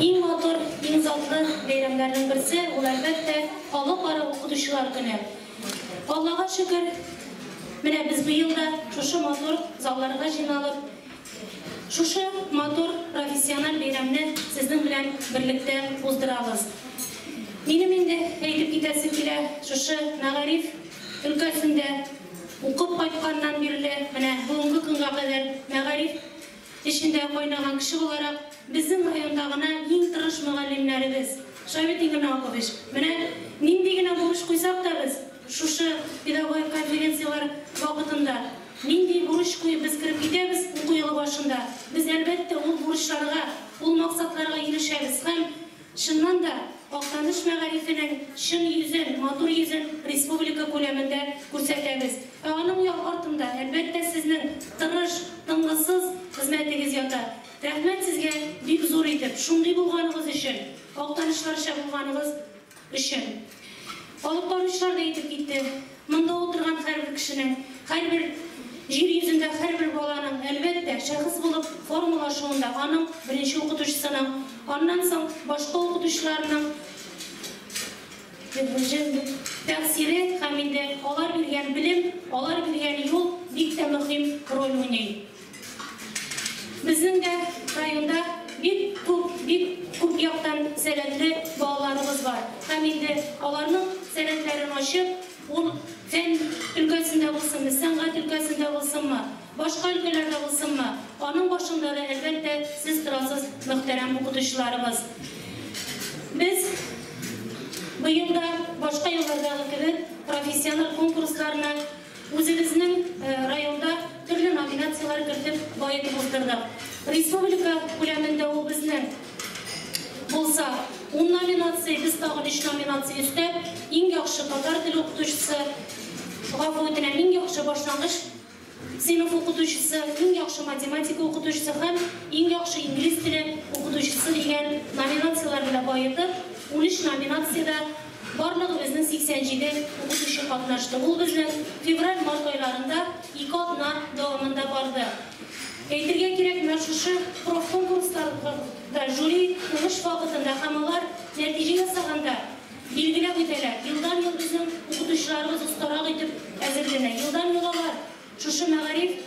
Иң матур, иң затлы бәйрәмнәрнең берсе, ул, әлбәттә, Халыкара укытучылар көне. Аллага шөкер, менә без быел да шушы матур залларга җыйналып, шушы матур профессиональ бәйрәмне сезнең белән берлектә уздырабыз. Минем инде әйтеп китәсем килә, шушы мәгариф өлкәсендә укып кайтканнан бирле, менә бүгенге көнгә кадәр мәгариф Эчендә кайнаган кеше буларак, безнең районда гына иң тырыш мөгаллимнәребез, Шаветин Геннау Акович, менә нинди генә бурыч куйсак та без, шушы педагогик конференцияләр вакытында нинди бурыч куеп без кереп китәбез уку елы башында, без, әлбәттә, ул бурычларга, ул максатларга ирешәбез һәм, Чыннан да, Актаныш мәгарифенең чын йөзен, матур йөзен республика күләмендә күрсәтәбез. Ә аның як артында, әлбәттә, сезнең тырыш, тынгысыз хезмәтегез ята. Рәхмәт сезгә бик зур итеп, шундый булганыгыз өчен, актанышларча булганыгыз өчен. Алып баручылар да әйтеп китте. Монда утырган һәрбер кешенең, һәрбер Җир йөзендә һәрбер баланың, әлбәттә, шәхес булып формалашуында аның, беренче укытучысының, аннан соң башка укытучыларның тәэсире һәм инде алар биргән белем, алар биргән юл бик тә мөһим роль уйный. Безнең дә районда бик күп, бик күп яктан сәләтле балаларыбыз бар. Һәм инде аларның сәләтләрен ачып, ул фән өлкәсендә булсынмы, сәнгать өлкәсендә булсынмы, башка өлкәләрдә булсынмы, аның башында да, әлбәттә, сез торасыз, мөхтәрәм укытучыларыбыз. Без быел да, башка еллардагы кебек, профессиональ конкурсларны, Үзебезнең районда төрле номинацияләр кертеп баетып уздырдык. Республика күләмендә ул безне булса ун номинация, без тагын өч номинация өстәп, иң яхшы татар теле укытучысы, гафу үтенәм, иң яхшы башлангыч сыйныф укытучысы, иң яхшы математика укытучысы һәм иң яхшы инглиз теле укытучысы дигән номинацияләр белән баетып, унөч номинациядә Барлыгы безнең 87 укытучы катнашты. Ул безнең февраль-март айларында ике атна дәвамында барды. Әйтергә кирәк, менә шушы профконкурсларда жюри уңыш вакытында һәм алар нәтиҗә ясаганда билгеләп үтәләр. Елдан-ел безнең укытучыларыбыз остарак итеп әзерләнә. Елдан-ел алар Шушы мәгариф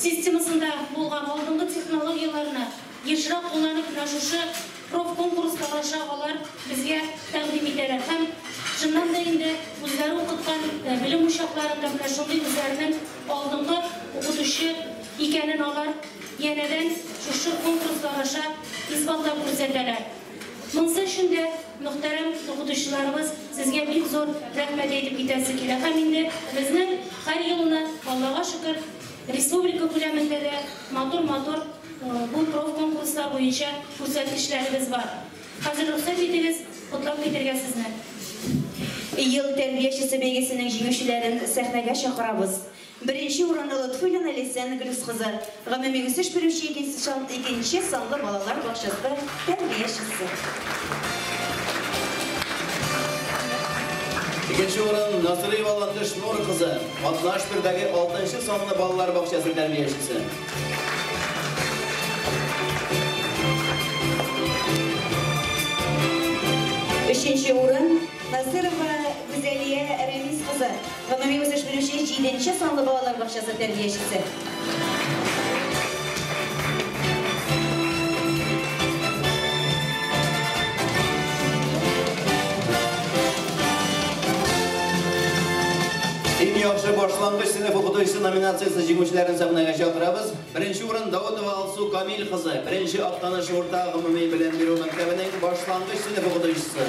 системасында булган алдынгы технологияләрне ешрак кулланып менә шушы профконкурс барыша алар безгә тәкъдим итәләр һәм чыннан да инде үзләре укыткан белем учакларында менә шундый үзләренең алдынгы укытучы икәнен алар янәдән шушы конкурслар аша исбатлап күрсәтәләр. Монсы өчен дә, мөхтәрәм укытучыларыбыз, сезгә бик зур рәхмәт әйтеп китәсе килә һәм инде безнең һәр елны, Аллага шөкер, республика күләмендә дә матур-матур бу профконкурслар буенча күрсәткечләребез бар. Хәзер рөхсәт итегез, котлап китергә сезне. Ел тәрбиячесе бәйгесенең җиңүчеләрен сәхнәгә чакырабыз. Беренче урынны Лотфуллина Ләйсән Гөлүс кызы, гомуми үсеш бирүче икенче санлы балалар бакчасы тәрбиячесе. Икенче урын Насыйрова Латыш Нур кызы, 61 дәге алтынчы санлы балалар бакчасы тәрбиячесе. Өченче урын Насыйрова Гүзәлия Рәмис кызы, Гомуми үсеш бүлеше җиденче санлы балалар бакчасы тәрбиячесе. Иң яхшы башлангыч сыйныф укытучысы номинациясе җиңүчеләрен сәхнәгә чакырабыз. Беренче урын Даутова Алсу Камил кызы, беренче Актаныш урта гомуми белем бирү мәктәбенең башлангыч сыйныф укытучысы.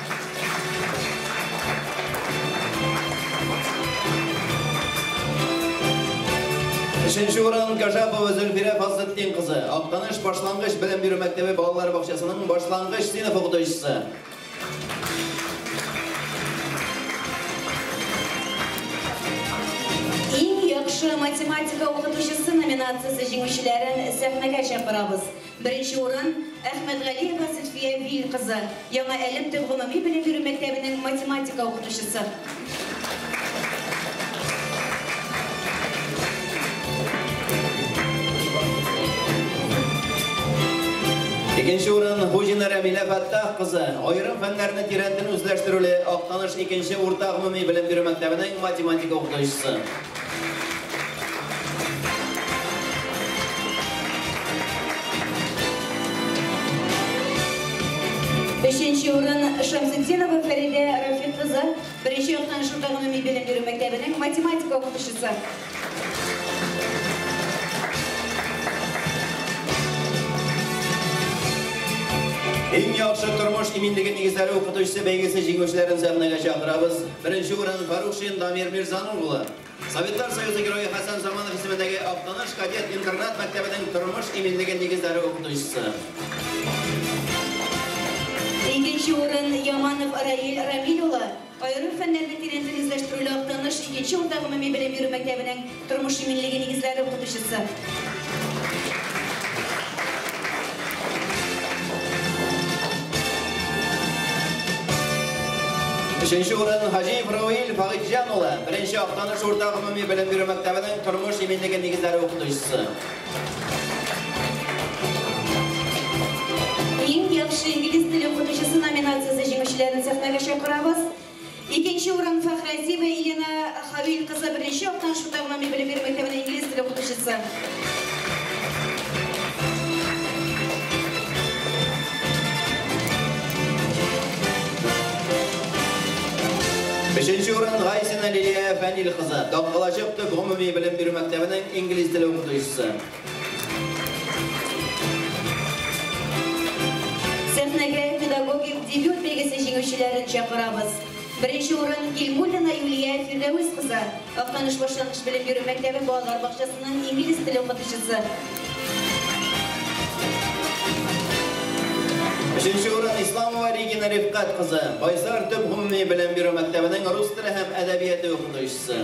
Өченче урын Гажапова Зөлфирә Фазлетдин кызы, Актаныш башлангыч белем бирү мәктәбе балалар бакчасының башлангыч сыйныф укытучысы. Иң яхшы математика укытучысы номинациясе җиңүчеләрен сәхнәгә чакырабыз. Беренче урын, Әхмәтгалиева Зөлфия Вил кызы, Яңа Әлем төп гомуми белем бирү мәктәбенең математика укытучысы. Икенче урын, Хуҗина Рәмилә Фәттах кызы, Аерым фәннәрне тирәнтен үзләштерүле Актаныш икенче урта гомуми белем бирү мәктәбенең математика укытучысы. Өченче урын Шамсетдинова Фәридә Рафик кызы, беренче яктан шунда гомуми белем бирү мәктәбенең математика укытучысы. Иң яхшы тормыш иминлеге нигезләре укытучысы бәйгесе җиңүчеләрен сәхнәгә чакырабыз. Беренче урын Фарухшин Дамир Мирзаның улы. Советлар Союзы Герое Хәсән Заманов исемендәге Актаныш кадет интернат мәктәбенең тормыш иминлеге нигезләре укытучысы. Икенче урын Яманов Раил Рамил улы, аерым фәннәрне тирәнтен үзләштерүле Актаныш икенче урта гомуми белем бирү мәктәбенең Тормыш иминлеге нигезләре укытучысы. Өченче урын Хаҗиев Равил Фагыйҗан улы, беренче Актаныш урта гомуми белем бирү мәктәбенең тормыш иминлеге нигезләре укытучысы. Иң яхшы инглиз теле укытучысы номинациясе җиңүчеләрен сәхнәгә чакырабыз. Икенче урын Фәхрәзиева Елена Хәвил кызы, беренче яктан Шута гына мин белем бирү мәктәбенең инглиз теле укытучысы. Өченче урын Гайсина Лилия Фәнил кызы, Даккалачык төп гомуми белем бирү мәктәбенең инглиз теле укытучысы. Сәхнәгә педагогик дебют бәйгесе җиңүчеләрен чакырабыз. Беренче урын Гилмуллина Юлия Фирдәвес кызы, Актаныш башлангыч белем бирү мәктәбе балалар бакчасының инглиз теле укытучысы. Өченче урын Исламова Регина Рифкать кызы, Байсар төп гомуми белем бирү мәктәбенең рус теле һәм әдәбияте укытучысы.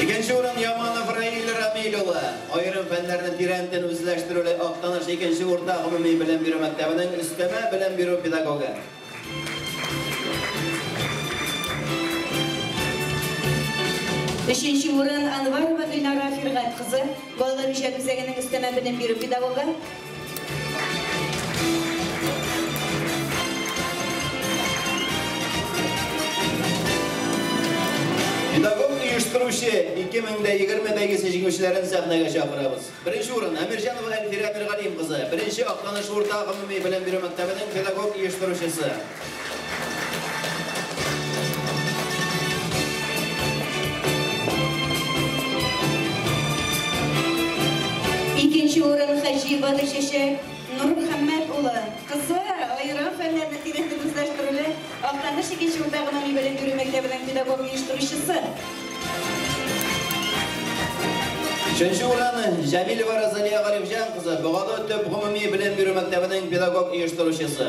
Икенче урын Яманов Раил Рамиль улы. Аерым фәннәрне тирәнтен үзләштерүле Актаныш икенче урта гомуми белем бирү мәктәбенең өстәмә белем бирү педагогы. Өченче урын Анварова Гөлнара Фиргать кызы, балалар үзәгенең өстәмә белем бирү педагогы. җиңүчеләрен сәхнәгә чакырабыз. Беренче урын Әмирҗанова Әлфирә Миргалим кызы, беренче акланыш урта гомуми белем бирү мәктәбенең педагог оештыручысы. Икенче урын Хаҗиева Гөлчәчәк Нурмөхәммәт улы, кызы, аерым фәннәр нәтиҗәсен үзләштерүле, Актаныш икенче урта гомуми белем бирү мәктәбенең педагог оештыручысы. Өченче урын Җәмилева Розалия Галимҗан кызы, Богалы төп гомуми белем бирү мәктәбенең педагог оештыручысы.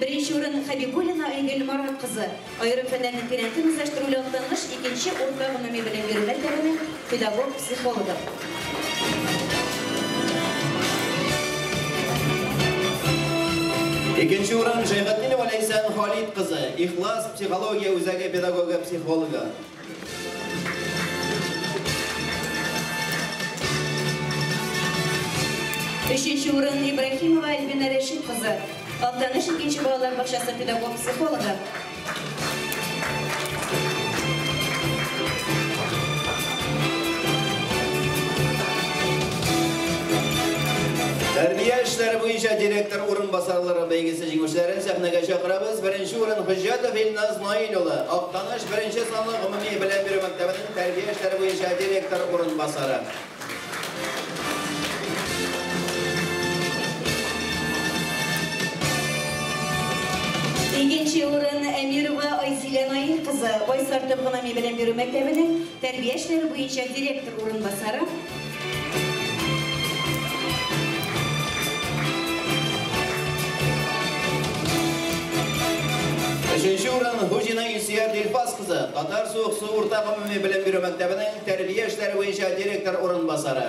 Беренче урын Хәбибуллина Айгөл Марат кызы, аерым фәннәрнең тирәнтен үзләштерүле актангыч, икенче урта гомуми белем бирү мәктәбенең педагог-психологы. Икенче урын Җәйгатдинова Ләйсән Халит кызы, Ихлас психология үзәге педагогы-психологы. Өченче урын, Ибраһимова Альбина Рәшит кызы, Актаныш икенче балалар бакчасы педагог-психологы. Тәрбия эшләре буенча директор урынбасарлары бәйгесе җиңүчеләрен сәхнәгә чакырабыз. Беренче урын Хөҗҗәтов Илназ Наил улы, Актаныш Беренче санлы гомуми белем бирү мәктәбенең тәрбия эшләре буенча директор урынбасары. Икенче урын Әмирова Айзилә Наил кызы, Байсарты гомуми белем бирү мәктәбенең тәрбия эшләре буенча директор урынбасары. Өченче урын Хуҗина Илсөяр Дилпас кызы, Татар суык су урта гомуми белем бирү мәктәбенең тәрбия эшләре буенча директор урынбасары.